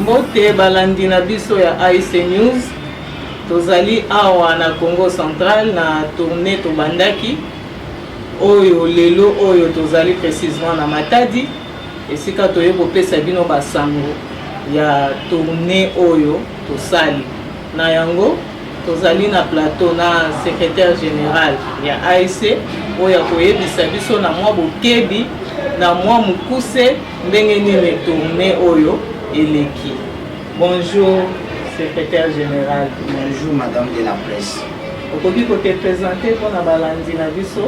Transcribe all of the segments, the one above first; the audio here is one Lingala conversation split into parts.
mbote balandi na biso ya ic news tozali awa na congo central na tourne tobandaki oyo lelo oyo tozali précisement na matadi Esika toye kopesa bino ba sango ya tournee oyo tosali na yango tozali na plateau na secretaire general ya ASC oyo akoyebisa biso na mwa bokebi na mwa mokuse ndenge nini tournee oyo eleki. Bonjour secretaire general. Bonjour madame de la presse. okoki ko te presenter mpo na balandi na biso?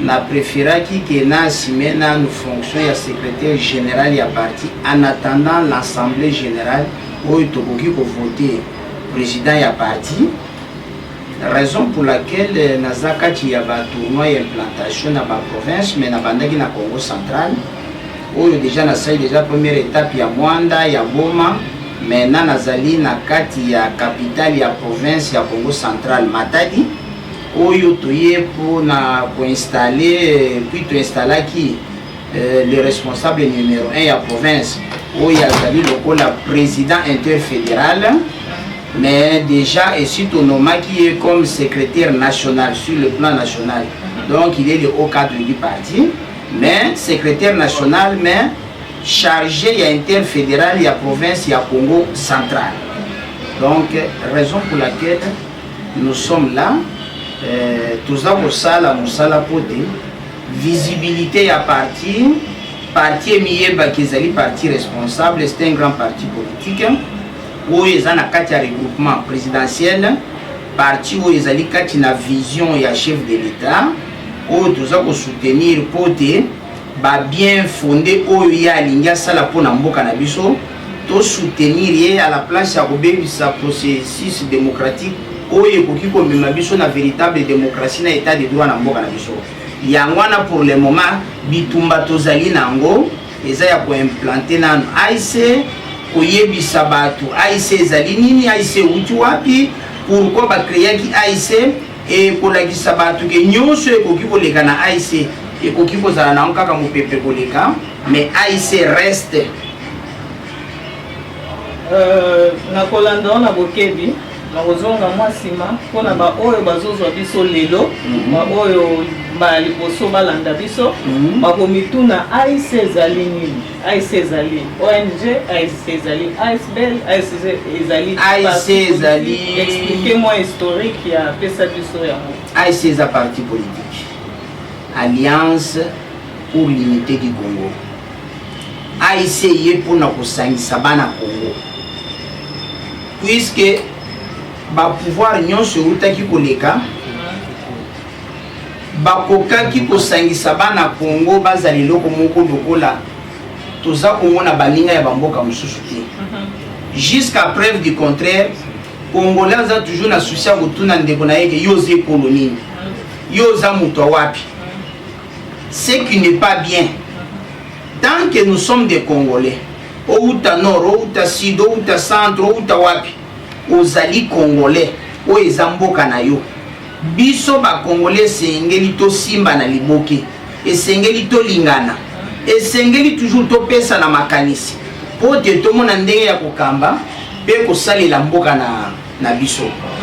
Na preferaki que na assumer nanu fonction ya secretaire general ya parti en attendant l'assemblee generale oyo tokoki ko voter president ya parti, raison pour laquelle naza kati ya ba tournois ya implantation na ba provinces mais nabandaki na Kongo central oyo dejà nasali dejà première etape ya Moanda, ya Boma, maintenant nazali na kati ya capitale ya province ya Kongo central, Matadi. oyo toye mpo na koinstalle puis toinstalaki euh, le responsable numero 1 ya province oyo azali lokola président interfédéral mais déjà esi tonomaki ye comme secrétaire national sur le plan national donc il est le haut cadre du parti mais secrétaire national mais chargé ya interfédéral ya province ya congo central donc raison pour laquelle Nous sommes là eh, toza kosala mosala mpo te visibilité ya parti parti emiyebaki ezali parti responsable c'est un grand parti politique oyo eza na kati ya regroupement présidentiel parti oyo ezali kati na vision ya chef de l'état oyo toza kosoutenir mpo te Ba bien fonde oyo ye alingi asala mpo na mboka na biso, to soutenir ye à la place ya kobebisa processus democratique oyo ekoki komema biso na veritable democratie na etat de droit na mboka na biso. Yango wana pour le moment bitumba tozali na yango eza ya ko implanter nanu AIC, koyebisa batu AIC ezali nini, AIC ewuti wapi, pourquoi ba creaki AIC, Ekolakisa batu ke nyoso ekoki koleka na AIC, ekoki kozala nango kaka mupepe koleka mais AIC reste. Euh, na kolanda yo na bokebi nakozonga mwa nsima mpo na baoyo bazozwa biso lelo mhm. baoyo mbala liboso balanda biso mhm. bakomituna aise ezali nini ASC ezali ONG, ASC ezali ASBL, ASC ezali ASC ezali expliquez moi historique ya pesa biso yango. ASC eza parti politique. Alliance pour l'unité du Congo. ASC ye mpona kosangisa bana Congo. Puisque ba pouvoir nyonso eutaki koleka Bakokaki kosangisa bana Congo bazala eloko moko lokola toza komona baninga ya ba mboka mosusu te. Jusqu'à preuve du contraire, Congolais aza toujours na souci ya kotuna ndeko na ye ke yo oza ekolo nini? Yo oza moto ya wapi? Ce qui n'est pas bien. Tant que nous sommes des Congolais, owuta nord, owuta sud, owuta centre, owuta wapi, ozali Congolais, oyo eza mboka na yo. Biso ba congolais esengeli tosimba na liboke, esengeli tolingana, esengeli toujours topesana makanisi mpo te tomona ndenge ya kokamba mpe kosalela mboka na, na biso.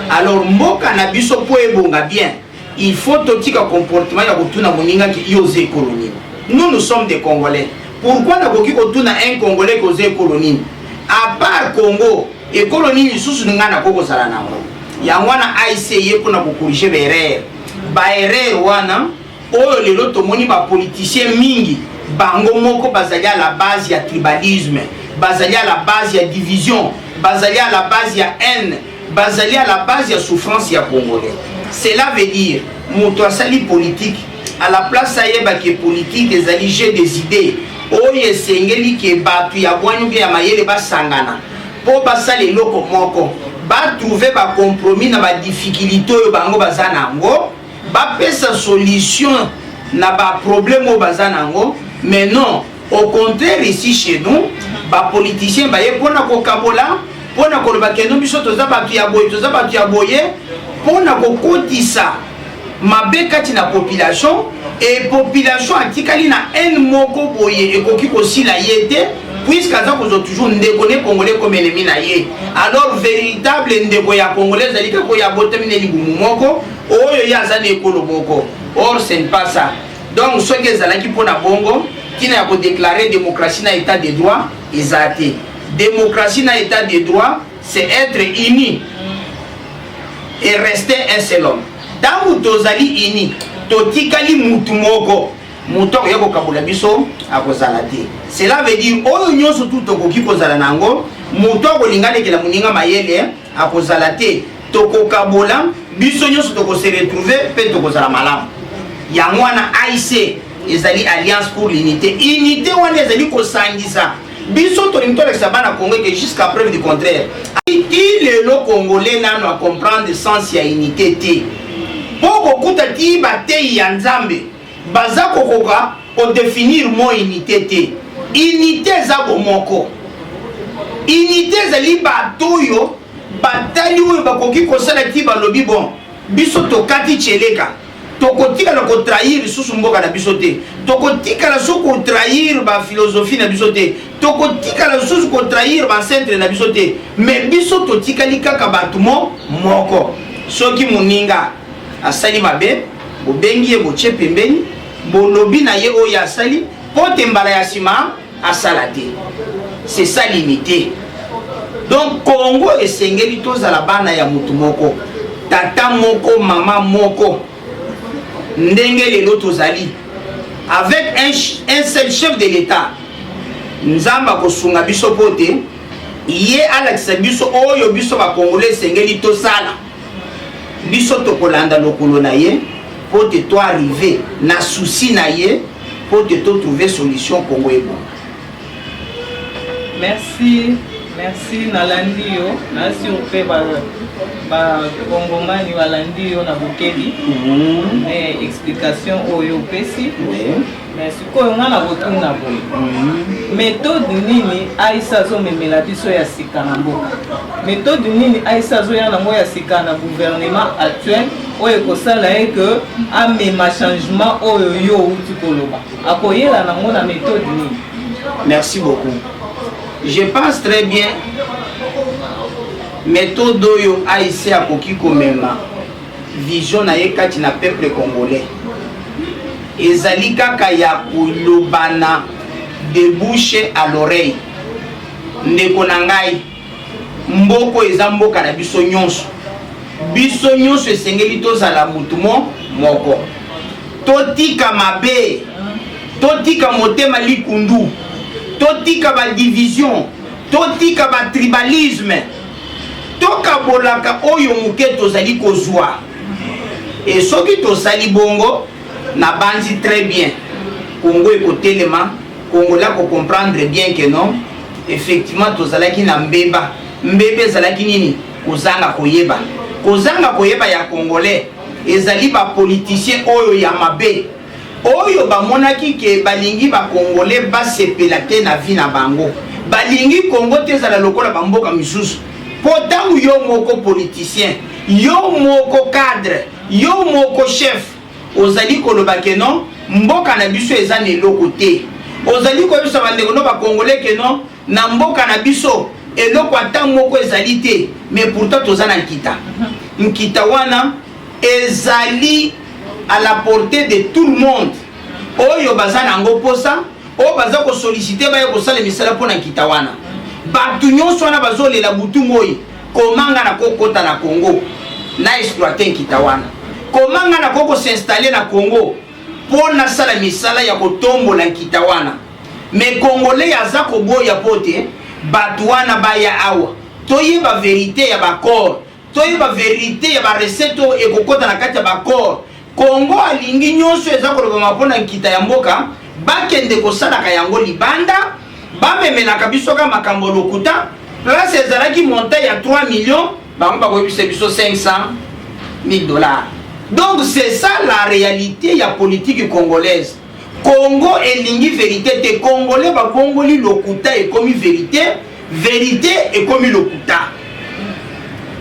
Alors mboka na biso mpo ebonga bien, il faut totika comportement ya kotuna moninga ki yo oza ekolo nini. Nous nous sommes des congolais. Pourquoi nakoki kotuna un congolais ki oza ekolo nini? A part Congo, ekolo nini lisusu ngai nakoki kozala na yango? yango wana aic eye mpona kokorige baerreur baerreur wana oyo lelo tomoni bapoliticien mingi bango moko bazali à la base ya tribalisme bazali à la base ya division bazali à la base ya haine bazali à la base ya souffrance ya congolais cela veut dire moto asali politike à la place ayeba ke politike ezali jeu des idées oyo esengeli ke bato ya bwani mpe ya mayele basangana po basala eloko moko ba trouver ba compromis na ba difficultes oyo bango baza na yango bapesa solution na ba problème oyo baza na yango mais non au contraire ici chez nous ba politiciens baye mpona kokabola mpona koloba keno biso toza bato ya boye toza bato ya boye mpona kokotisa mabe kati na population et population atikali na haine moko boye ekoki kosila ye te puisque aza kozwa toujours ndeko ne congolais comme ennemi na ye alors véritable ndeko ya congolais ezali kaka oyo abotami na libumu moko oyo ye aza na ekolo moko or ce n'est pas ça donc soki ezalaki mpo na bongo ntina ya kodeklare démocratie na état de droit eza te démocratie na état de droit c'est etre uni et reste un seul homme ntango tozali uni totikali mutu moko moto akoya kokabola biso akozala te cela veut dire oyo nyonso tu tokoki kozala na yango moto akolinga alekela moninga mayele akozala te tokokabola biso nyonso tokose retrouve mpe tokozala malamu yango wana aic ezali alliance pour l'unité unité wana ezali kosangisa Biso tolingi tolakisa bana Congo ete jusqu'à preuve du contraire. Ti lelo Congolais nano a comprendre sens ya unité te. Mpo kokuta ti bateyi ya Nzambe baza kokoka ko definir mot unité te. Unité eza bomoko. Unité ezali bato oyo batali oyo bakoki kosala ti balobi bon biso tokati tsheleka. tokotikala ko trahir lisusu mboka na biso te tokotikala lisusu ko trahir ba philosophie na biso te tokotikala lisusu ko trahir ba centre na biso te mais biso totikali kaka bato mo moko soki moninga asali mabe bobengi ye botie pembeni bolobi na ye oyo asali mpo te mbala ya nsima asala te c'est ça l'unité donc congo esengeli tozala bana ya motu moko tata moko mama moko ndenge lelo tozali avec un, un seul chef de l'état nzambe akosunga biso mpo te ye alakisa biso oyo biso bakongole esengeli tosala biso tokolanda lokolo na ye mpo te to arrive na souci na ye mpo te to trouve solution kongo ebonga merci merci nalandi yo nasur mpe bakongomani balandi yo na bokebi mhm. explication oyo opesi me sikoyo nga na kotuna boye methode nini aisa azomemela biso ya sika na mboka methode nini aisa azoya nango ya sika na gouvernement actuel oyo ekosala ye ke amema changement oyo yo outi koloba akoyela nango na methode nini merci beaucoup je pense très bien methode oyo aise akoki komema Vision na ye kati na peuple congolais ezali kaka ya kolobana de bouche à l'oreille. Ndeko na ngai, mboko eza mboka na biso nyonso. Biso nyonso esengeli tozala motu mo moko. Totika mabe, totika motema likundu, totika ba division, totika ba tribalisme. Tokabolaka oyo moke tozali kozwa. E soki tosali bongo, nabanzi très bien Congo ekotelema, Congolais akocomprendre bien que non, effectivement tozalaki na mbeba. Mbeba ezalaki nini? Kozanga koyeba. Kozanga koyeba ya Congolais ezali ba politiciens oyo ya mabe. oyo bamonaki ke balingi ba congolais basepela te na vie na bango balingi congo te ezala lokola ba mboka misusu po tango yo moko politicien yo moko cadre yo moko chef ozali koloba ke non mboka na biso eza na eloko te ozali koyebisa bandeko no bacongolais ke non na mboka na biso eloko ata moko ezali te mais pourtant toza na nkita nkita wana Ezali à la portee de tout le monde oyo baza na yango mposa oyo baza kosolicite baya kosala misala mpo na nkita wana bato nyonso wana bazolela butu moi komanga na kokota na congo na exploite nkita wana komanga na kokosinstalle na congo mpo nasala misala ya kotombola nkita wana me kongolei aza koboya mpo te bato wana baya awa toyeba verite ya baaccord Toyeba verite ya ba recette oyo ekokota na kati ya ba corps. Congo alingi nyonso eza kolobama mpo na nkita ya mboka bakende kosalaka yango libanda, bamemelaka biso kaka makambo lokuta. Place ezalaki montant ya 3 millions, bango bakoyebisa biso 500 mille dollars. Donc c'est ça la realite ya politique congolaise. Congo elingi verite te congolais ba bongoli lokuta ekomi verite verite ekomi lokuta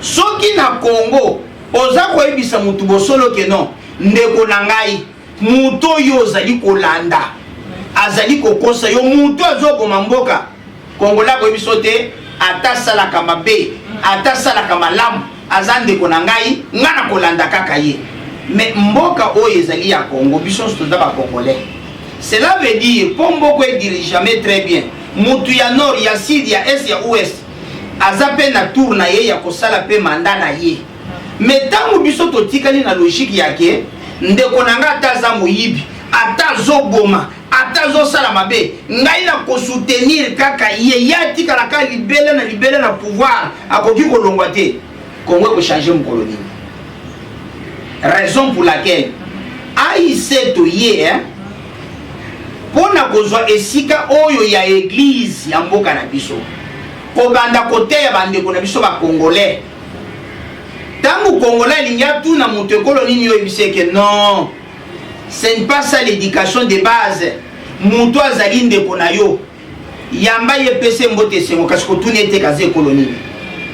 soki na congo oza koyebisa mutu bosolo ke non ndeko na ngai mutu oyo ozali kolanda azali kokosa yo mutu azoboma mboka Congolais akoyebi biso te ata asalaka mabe ata asalaka malamu aza ndeko na ngai ngai nakolanda kaka ye me mboka oyo ezali ya congo biso nyonso toza bacongolais cela veut dire mpo mboko edirigame très bien mutu ya nord ya sud ya est ya ouest aza mpe na tour na ye ya kosala mpe manda na ye me ntango biso totikali na logike yake ndeko na ngai ata aza moyibi ata azoboma ata azo sala mabe ngai na ko soutenir kaka ye ye atikala kaka libela na libela na pouvoir akoki kolongwa te kongo ekochange mokolo nini raison pour laquelle aic toye hein? mpo na kozwa esika oyo ya eglize ya mboka na biso kobanda koteya bandeko na biso bakongolais ntango kongolais alingi atuna moto ekolo nini yo oyebisi eke non C'est ne pas ça l'éducation de base. Mutu azali ndeko na yo. Yamba ye pese mbote sengo kasi kotuni ete kaza ekolo nini.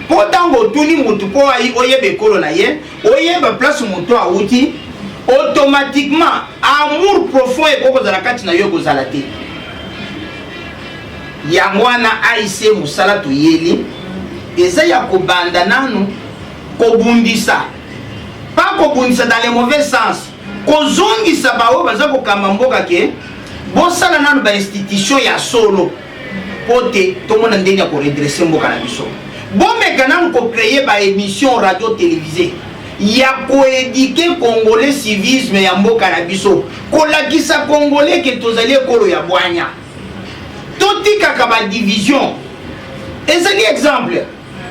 Mpo ntango otuni mutu mpo oyeba ekolo na ye, oyeba place mutu awuti, automatiquement amour profond ekoki kozala kati na yo ekozala te. Yango wana AIC mosala toyeli eza ya kobanda nanu kobundisa pas kobundisa dans le mauvais sens kozongisa baoyo baza kokamba mboka ke bosala nano bainstitution ya solo mpo te tomona ndenge ya koredresse mboka na biso bomeka nano kocreye baémission radio télévisé ya koedike congolais civisme ya mboka na biso kolakisa congolais ke tozali ekolo ya bwanya totikaka badivision ezali exemple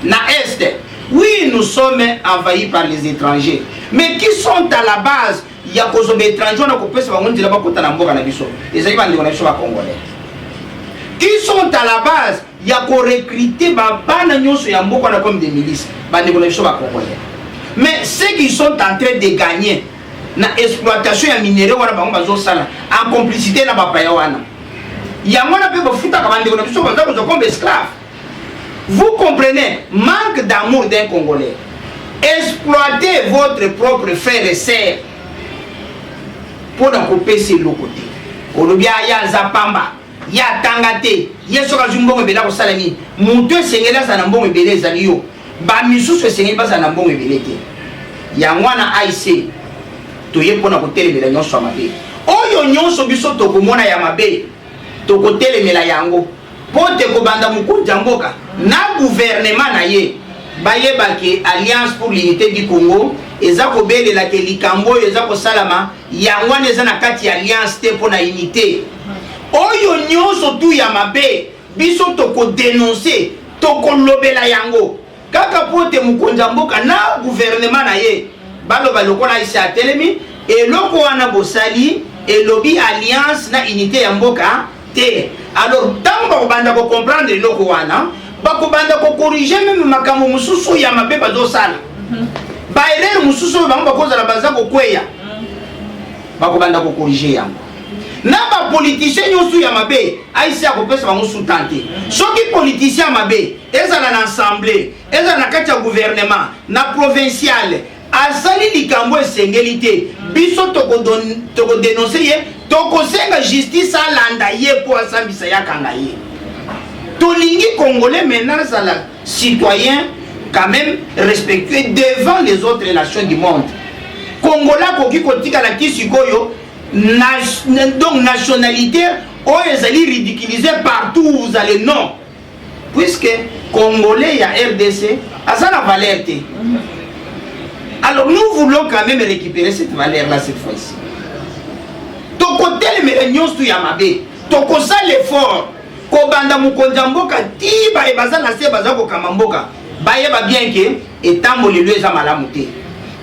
na est oui nous sommes envahis par les étrangers mais qui sont à la base ya kozomba étranger wana kopesa bango nzela bakota na mboka na biso ezali bandeko na biso bacongolais qui sont à la base ya korecrute babana nyonso ya mboka wana comme des milices bandeko na biso bacongolais mais ceux qui sont en train de gagner na exploitation ya minere wana bango bazosala en complicité na bapaya wana yango wana mpe bafutaka bandeko na biso baza kozwa comme esclave Vous comprenez manque d'amour d'un congolais exploiter votre propre frère et sœur mpo na kopesa eloko te olobi aya aza pamba ye atanga te ye soki azwi mbongo ebele akosala nini moto esengeli azala na mbongo ebele ezali yo bamisusu esengeli bazala na mbongo ebele te yango wana aic toye mpo na kotelemela nyonso ya mabe oyo nyonso biso tokomona ya mabe Tokotelemela yango mpo te kobanda mokonzi ya mboka na guvernema na ye bayeba ke Alliance pour l'unite du Congo eza kobelela ke likambo oyo eza kosalama yango wana eza na kati ya alliance te mpo na unite oyo nyonso tu ya mabe biso tokodenonse tokolobela yango Kaka mpo te mokonzi ya mboka na guvernema na ye baloba lokola aise atelemi eloko wana bosali elobi alliance na unité ya mboka te alors ntango bakobanda kocomprendre eloko wana bakobanda kokorige meme makambo mosusu ya mabe bazosala mhm. baerere mosusu oyo bango bakozala baza kokweya mhm. bakobanda kokorige yango na bapolitisien nyonso ya mabe aisi akopesa bango sutan te soki politisien ya mabe ezala na assemblee ezala na kati ya gouvernement na provinciale azali likambo esengeli te biso tokodenonse ye tokosenga justice alanda ye mpo asambisa ye akanga ye tolingi congolais maintenant azala citoyen quand même respectué devant les autres nations du monde congolais akoki kotikala ti sikoyo donc nationalité oyo ezali ridiculise partout où vous allez non puisque congolais ya rdc aza na valeur te alors nous voulons quand même récupérer cette valeur là cette fois-ci tokotelemela nyonso ya mabe tokosala effort kobanda mokonzi ya mboka ti baye baza na se baza kokamba mboka bayeba bien ke etambolelo eza malamu te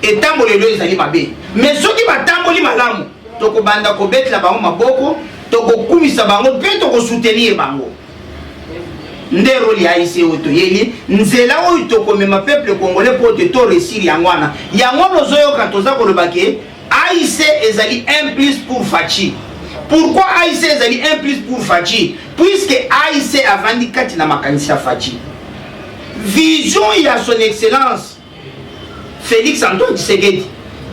etambolelo ezali mabe mais soki batamboli malamu tokobanda kobetela bango maboko tokokumisa bango mpe tokosoutenir bango nde role ya aic oyo toyebi nzela oyo tokomema peuple congolais mpo te to resir yango wana yango wana ozoyoka toza koloba ke aic ezali un plus pour faci pourquoi aic ezali un plus pour faci puisque aic avandi kati na makanisi ya faci vision ya son excellence Felix Antoine Tshisekedi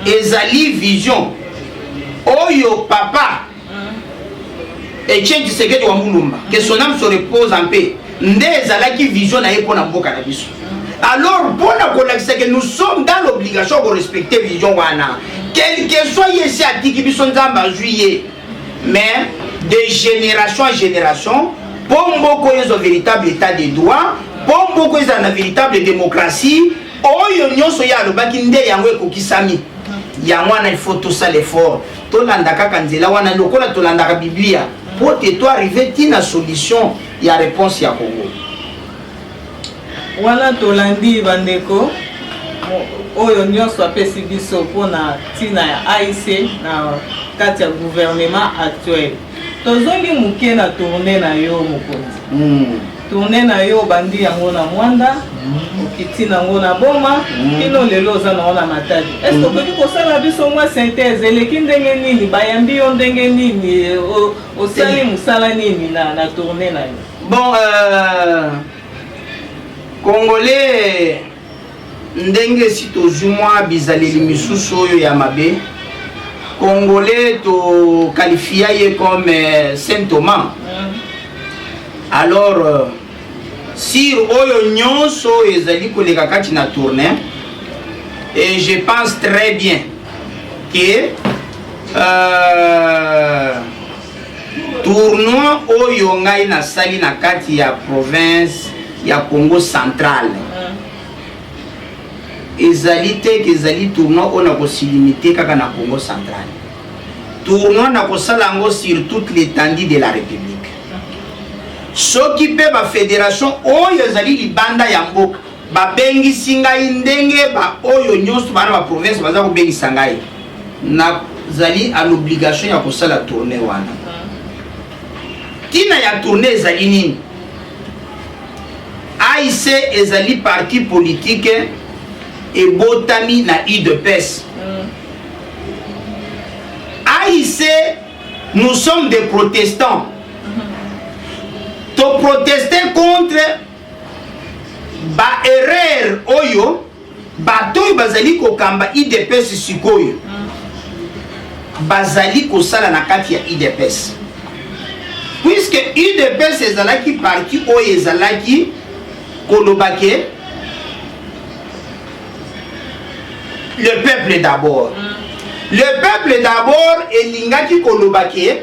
ezali vision oyo papa Etienne Tshisekedi wa Mulumba que son âme se repose en paix nde ezalaki vision na ye mpo na mboka na biso alors mpo na kolakisa que nous sommes dans l'obligation ya korespecte vision wana quelque soit ye esi atiki biso nzambe azwi ye mais de génération en génération mpo mboko ezwa véritable état de droit mpo mboko ezala na véritable démocratie oyo nyonso ye alobaki nde yango ekokisami yango wana ilfaut tosala effort tolanda kaka nzela wana lokola tolandaka biblia mpo te to arrive ntina solution ya réponse ya congo Wana tolandi bandeko oyo nyonso apesi biso mpo na ntina ya AIC na kati ya gouvernement actuel. Tozongi moke na tourne na yo mokonzi. Mm. Tourne na yo obandi yango na Mwanda, mm. okiti nango na Boma, mm. kino lelo oza nango na Matadi. Est-ce mm. okoki kosala biso mwa synthèse eleki ndenge nini, bayambi yo ndenge nini, osali mosala nini na, na tourne na yo? Bon, euh, Congolais ndenge esi tozwi mwa bizaleli misusu oyo ya mabe congolais tokalifia ye comme euh, saint thomas alors euh, sir oyo nyonso oyo ezali koleka kati na tourne et je pense très bien que euh, Tournoi oyo ngai nasali na kati ya province ya Congo central mm. ezali te ke ezali tournoi oyo nakosilimite kaka na Congo central. Tournoi nakosala yango sur toute l'étendue de la République. Soki mpe bafederation oyo ezali libanda ya mboka babengisi ngai ndenge baoyo nyonso bana baprovince baza kobengisa ngai nazali à l'obligation ya kosala tournée wana ntina ya tournée ezali nini aic ezali parti politike ebotami na udps aic nous sommes des protestants toproteste contre baerreur oyo Bato oyo bazali kokamba udps sikoyo bazali kosala na kati ya udps puiske udps ezalaki parti oyo ezalaki koloba ke le peuple d'abord mm. le peuple d'abord elingaki koloba ke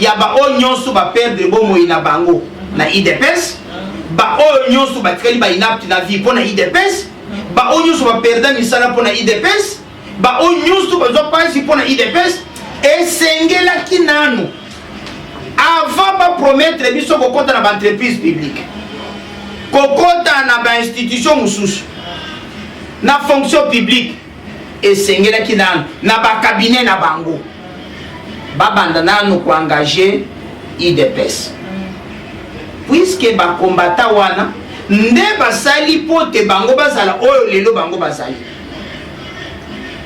ya baoyo nyonso ba perdre bomoi na bango na idps baoyo nyonso batikali ba inapte na vie mpo na idps baoyo nyonso baperda misala mpo na idps baoyo nyonso bazwa mpasi mpo na idps esengelaki nanu avant bapromettre biso kokɔta na baentreprise publique kokɔta na bainstitution mosusu na fonction publique esengelaki nanu na ba cabinet na bango babanda nanu ko engage idps puisque bakombata wana nde basali mpo te bango bazala oyo lelo bango bazali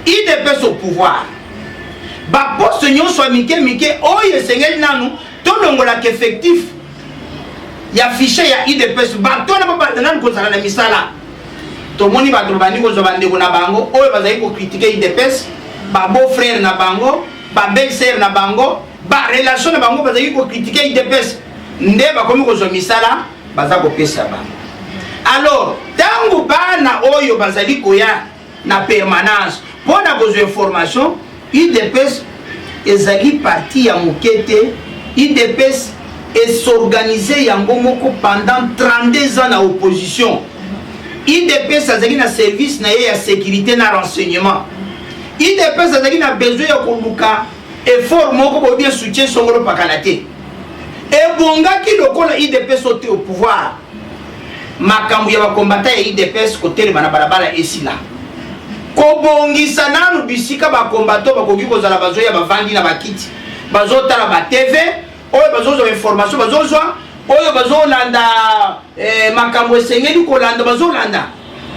idps au pouvoir baposte nyonso ya mike mike oyo esengeli nanu tolongolaka effectif ya fichier ya udps bato wana babanda nanu kozala na misala tomoni bato babandi kozwa bandeko na bango oyo bazali kokritike udps babeau frère na bango babelle sœur na bango barelation na bango bazali kokritike udps nde bakomi kozwa misala baza kopesa bango alors ntango bana oyo bazali koya na permanence mpo na kozwa information udps ezali parti ya moke te udps esorganize yango moko pendant 32 ans na opposition udps azali na service na ye ya sécurité na renseignement udps azali na besoin ya koluka effort moko bobi soutien songolo pakala te ebongaki lokola udps ote au pouvoir makambo ya bakombata ya idps kotelema na balabala esila kobongisa nanu bisika bakombato bakoki kozala bazoya bavandi na bakiti bazotala ba tv oyo bazozwa information bazozwa oyo bazolanda eh, makambo esengeli kolanda bazolanda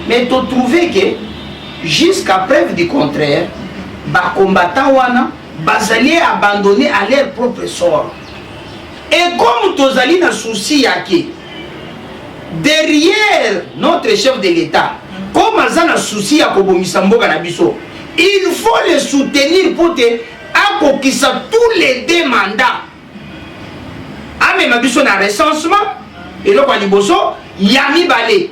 mais totrouve ke jusqu'à preuve du contraire bakombata wana bazali abandonne à leur propre sort Et comme tozali na souci ya ke derrière notre chef de l'État, comme aza na souci ya kobongisa mboka na biso, il faut le soutenir pour te akokisa tous les deux mandats. Amema biso na recensement, eloko ya liboso, ya mibale.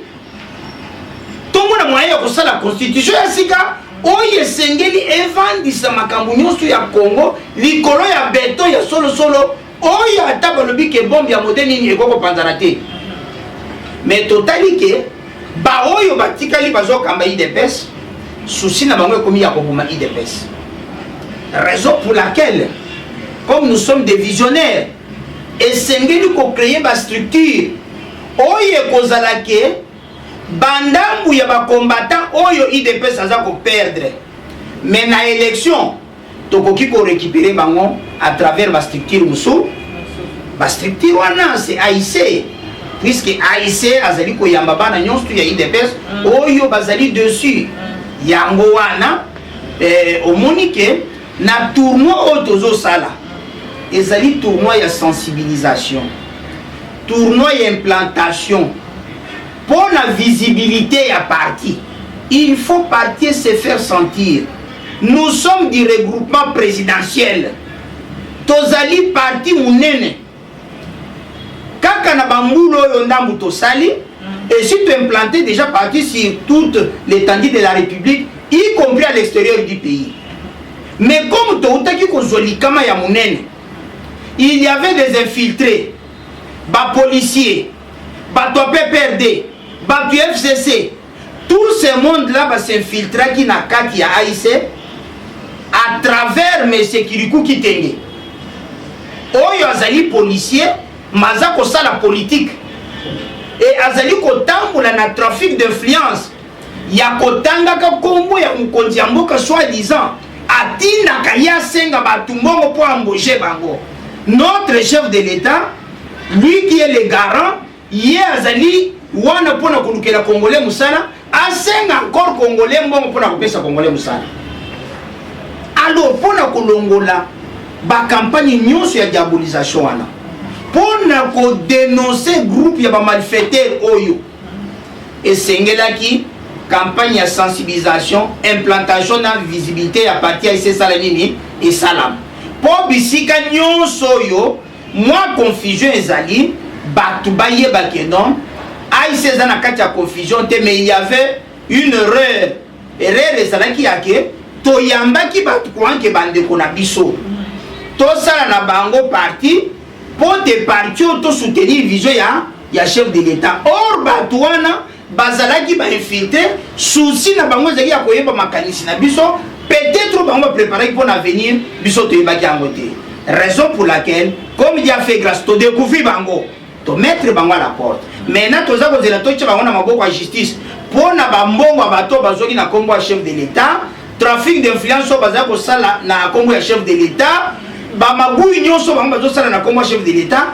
tomona moyen ya kosala constitution ya sika oyo esengeli evandisa makambo nyonso ya congo likolo ya beton ya solosolo oyo ata balobi ke bombe ya mode nini ekoki kopanzana te me totali ke baoyo batikali bazokamba idps susi na bango ekomi ya koboma idps raison pour laquelle comme nous sommes des visionnaires esengeli kocreye bastructure Oyo ekozala ke bandambu ya ba combattant oyo idps aza ko perdre mais na election tokoki ko récupérer bango à travers ba structure mosusu ba structure wana c'est AIC puisque AIC azali koyamba bana nyonso ya idps mm. oyo bazali dessus mm. yango wana eh, omoni ke na tournoi oyo tozosala ezali tournoi ya sensibilisation Tournoi ya implantation mpo na visibilite ya parti il faut parti se faire sentir nous sommes du regroupement présidentiel tozali parti monene kaka na bambula oyo ndambu tosali mm. et si tu implanté déjà parti sur toute l'étendue de la république y compris à l'extérieur du pays mais comme toutaki kozwa likama ya monene il y avait des infiltrés ba policiers bato ya pprd bato ya fcc tout ce monde là ba s'infiltraki na kati ya aic à travers monsieur kiriku kitenge oyo azali policier maza kosala politique e azali kotambola na trafic d'influence ya kotangaka kombo ya mokonzi ya mboka soit disant atindaka ye asenga bato mbongo mpo amboge bango notre chef de l'etat lui qui est le garant ye azali wana mpo na kolukela congolais mosala asenga encore congolais mbongo mpo na kopesa congolais mosala alors mpo na kolongola bakampagne nyonso ya diabolisation wana mpo na kodenonse groupe ya bamalfaitere oyo Esengelaki campagne ya sensibilisation, implantation na visibilité ya parti ya esesala nini esalama mpo bisika nyonso oyo mwa confusion ezali bato bayeba ke non aise eza na kati ya confusion te mais il y avait une erreur erreur ezalaki ya ke toyambaki bato koanke bandeko na biso tosala na bango parti mpo te parti oyo tosoutenir vision ya ya chef de l'etat or bato wana bazalaki bainfiltre souci na bango ezalaki ya koyeba makanisi na biso peut-être bango bapreparaki mpo na avenir biso toyebaki yango te raison pour laquelle comme dia fait grâce todecouvri bango tomettre bango à la porte maintenant toza kozela totya bango na maboko ya justice mpo na bambongo ya bato bazwaki na nkombo ya chef de l'etat trafic d'influence oyo bazali kosala na nkombo ya chef de l'etat bamabui nyonso bango bazosala na nkombo ya chef de l'etat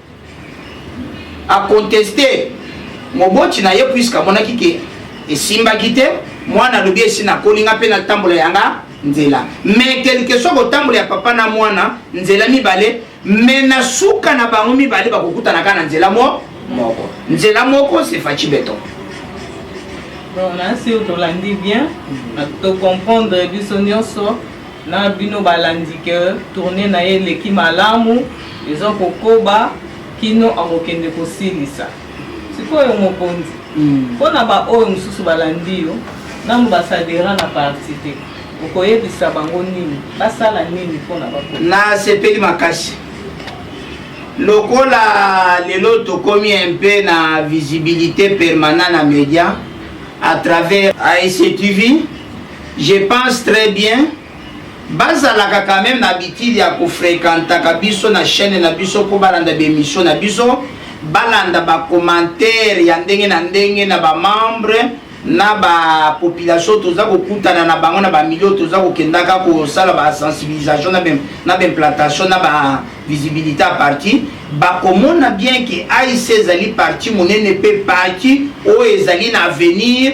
a conteste moboti na ye puisque amonaki ke esimbaki te mwana alobi esi nakoli nga mpe natambola yanga nzela mais quelque soit kotambola ya papa na mwana nzela mibale mais na suka na bango mibale bakokutana kaka na nzela mo moko nzela moko c'est faci beton bon nasi tolandi bien tocomprendre biso nyonso na bino balandi ke tourne na ye eleki malamu eza kokoba kino akokende kosilisa sikoyo mokonzi hmm. mpo na baoyo mosusu balandi yo nanu basadera na parti te okoyebisa bango nini basala nini mpo na bako nasepeli makasi lokola lelo tokomi un peu na visibilité permanent na média à travers ASC TV Je pense très bien bazalaka quand même na habitude ya kofrekantaka biso na chaîne na biso mpo balanda baemission na biso balanda bacommentaire ya ndenge na ndenge na bamembre na bapopulation toza kokutana na bango na bamilio toza kokendaka kosala basensibilisation na baimplantation na bavisibilité ya parti bakomona bien ke aic ezali parti monene mpe parti oyo ezali na avenir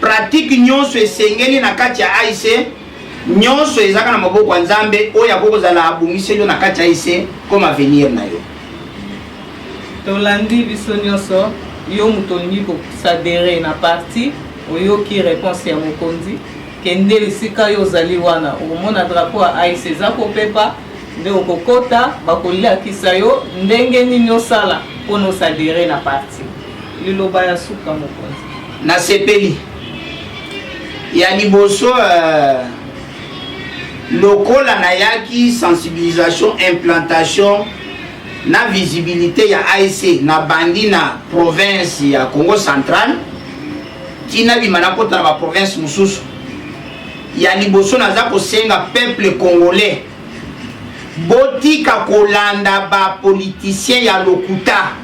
Pratique nyonso esengeli na kati ya AIC nyonso ezalaka na maboko ya Nzambe oyo akoki kozala abongiseli yo na kati ya AIC comme avenir na yo. Tolandi biso nyonso yo moto olingi kosadere na parti oyoki reponse ya mokonzi kende esika yo ozali wana okomona drapo ya ais eza kopepa nde okokota bakoliakisa yo ndenge nini osala mpona osadere na parti liloba ya suka mokonzi Nasepeli. Ya liboso euh, lokola nayaki sensibilisation implantation na visibilité ya ASC na bandi na province ya Congo central tina bima nakota na ba province mosusu ya liboso naza kosenga peuple congolais botika kolanda ba politicien ya lokuta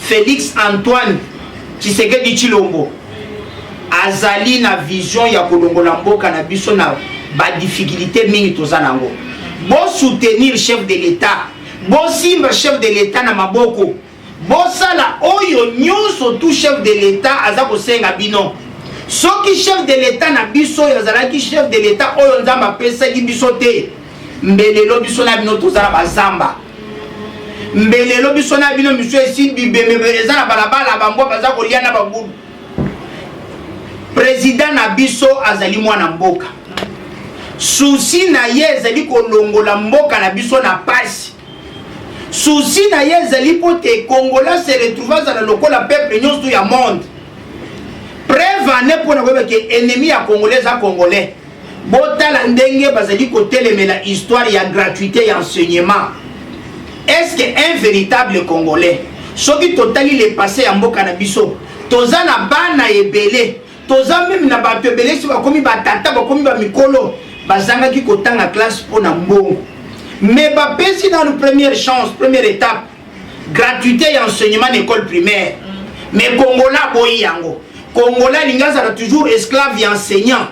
Felix Antoine Tshisekedi Tshilombo azali na vision ya kolongola mboka na biso na ba difficultés mingi toza nango. Bo soutenir chef de l'etat, bosimba chef de l'etat na maboko, bosala oyo nyonso tu chef de l'etat aza kosenga bino. Soki chef de l'etat na biso oyo azalaki chef de l'etat oyo Nzambe apesaki biso te, Mbelelo biso na bino toza na bazamba mbelelo biso na bino misu esi bibemebe eza na balabala bambwa baza kolia na bagulu president na biso azali mwana mboka susi na ye ezali kolongola mboka na biso na pasi susi na ye ezali mpo te kongola se retrouve azala lokola peuple nyonso ya monde prevane mpo na koyeba ke ennemi ya congolais eza congolais botala ndenge bazali kotelemela histoire ya gratuité ya enseignement est ce que un véritable congolais soki totali le passé ya mboka na biso toza na bana ebele toza meme na bato ebele si bakomi batata bakomi bamikolo bazangaki kotanga classe mpo na mbongo mais bapesi nanu première chance première étape gratuité ya enseignement na école primaire mais congolais aboyi yango congolais alingi azala toujours esclave ya enseignant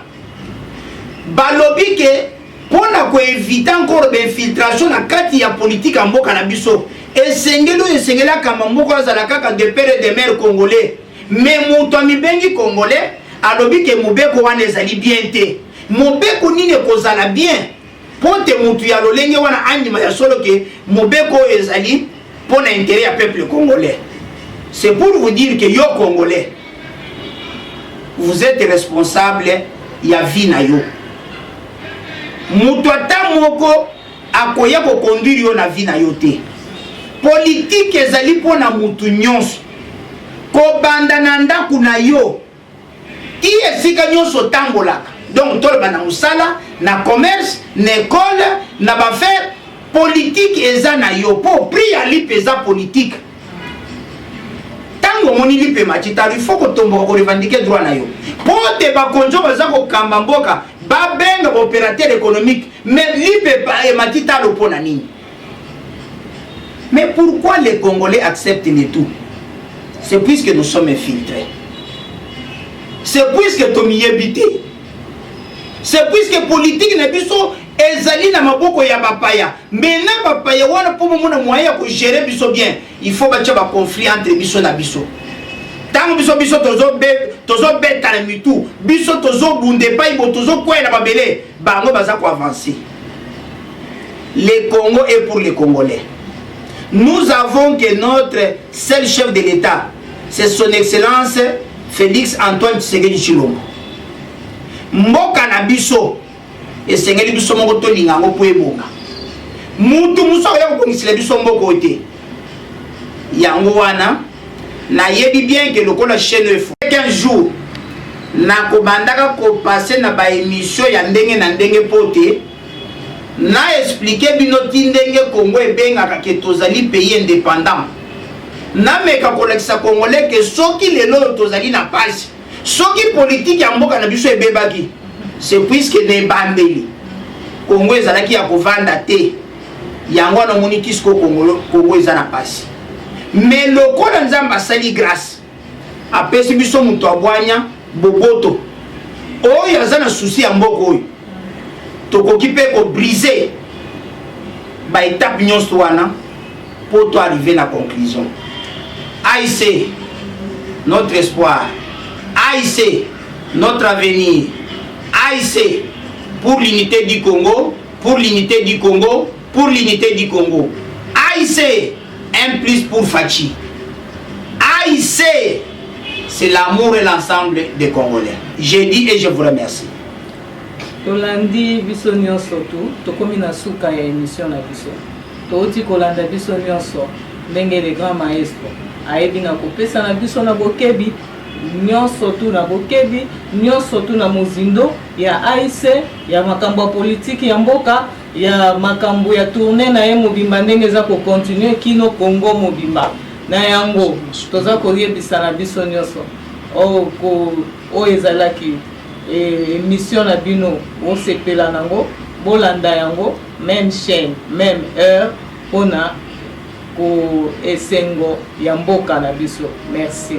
balobi ke mpo na koevite encore bainfiltration na kati ya politike ya mboka na biso esengeli oyo esengeli akamba moko azala kaka de pere de mare congolais me moto amibengi congolais alobi ke mobeko wana ezali bien te mobeko nini ekozala bien mpo te motu ya lolenge wana andima ya solo ke mobeko oyo ezali mpo na interet ya peuple congolais c'est pour vous dire que yo congolais vous êtes responsable ya vie na yo moto ata moko akoya kokonduire yo na vie na yo te politike ezali mpo na motu nyonso kobanda na ndako na yo Tii esika nyonso otambolaka, donc toloba na mosala, na commerce, na ecole, na ba affaires, politique eza na yo mpo prix ya lipa eza politique. ntango omoni lipa emati talo ifo kotomboka korevandike droit na yo mpo te bakonzi oyo baza kokamba mboka babenga baopérateur économique mais lipa emati talo mpo na nini Mais pourquoi les Congolais acceptent le tout C'est puisque nous sommes infiltrés. C'est puisque tomiyebi te. C'est puisque politique na biso ezali na maboko ya bapaya mais na bapaya wana mpo bomona moyen ya kogere biso bien il faut batya baconflit entre biso na biso ntango biso biso tozobetana mitu biso tozobunda epai bo tozokwela babele bango baza ko avancer le Congo est pour les Congolais nous avons que notre seul chef de l'État c'est son excellence Félix Antoine Tshisekedi Tshilombo mboka na biso esengeli biso moko tolinga yango mpo ebonga mutu mosusu akoya kobongisela biso mboka oyo te yango wana nayebi bien ke lokola chaîne efo qu'un jour nakobandaka kopase na baemission ya ndenge na ndenge mpo te na explike bino ti ndenge congo ebengaka ke tozali pays indépendant nameka kolakisa congolais ke soki lelo oyo tozali na pasi soki politike ya mboka na biso ebebaki se puiske na ebandeli congo ezalaki ya kovanda te yango wana omoni kisiko kongolo kongo eza na pasi me lokola nzambe asali grâce apesi biso moto abwanya boboto oyo aza na susi ya mboka oyo tokoki mpe kobrise baetape nyonso wana mpo to arrive na conclusion aic notre espoir aic notre avenir aic pour l'unité du congo pour l'unité du Congo pour l'unité du Congo AIC un plus pour Fatshi AIC c'est l'amour et l'ensemble des Congolais j'ai dit et je vous remercie tolandi biso nyonso tu tokomi na suka ya émission na biso touti kolanda biso nyonso ndenge le grand maestro ayebi na kopesa na biso na bokebi nyonso tu na bokebi nyonso tu na mozindo ya AIC, ya makambo ya politiki ya mboka, ya makambo ya tournee na ye mobimba ndenge eza ko continuer kino Congo mobimba. Na yango toza koyebisa na biso nionso oyo ezalaki emission na bino bosepela nango bolanda yango meme chaîne meme heure mpona ko esengo ya mboka na biso merci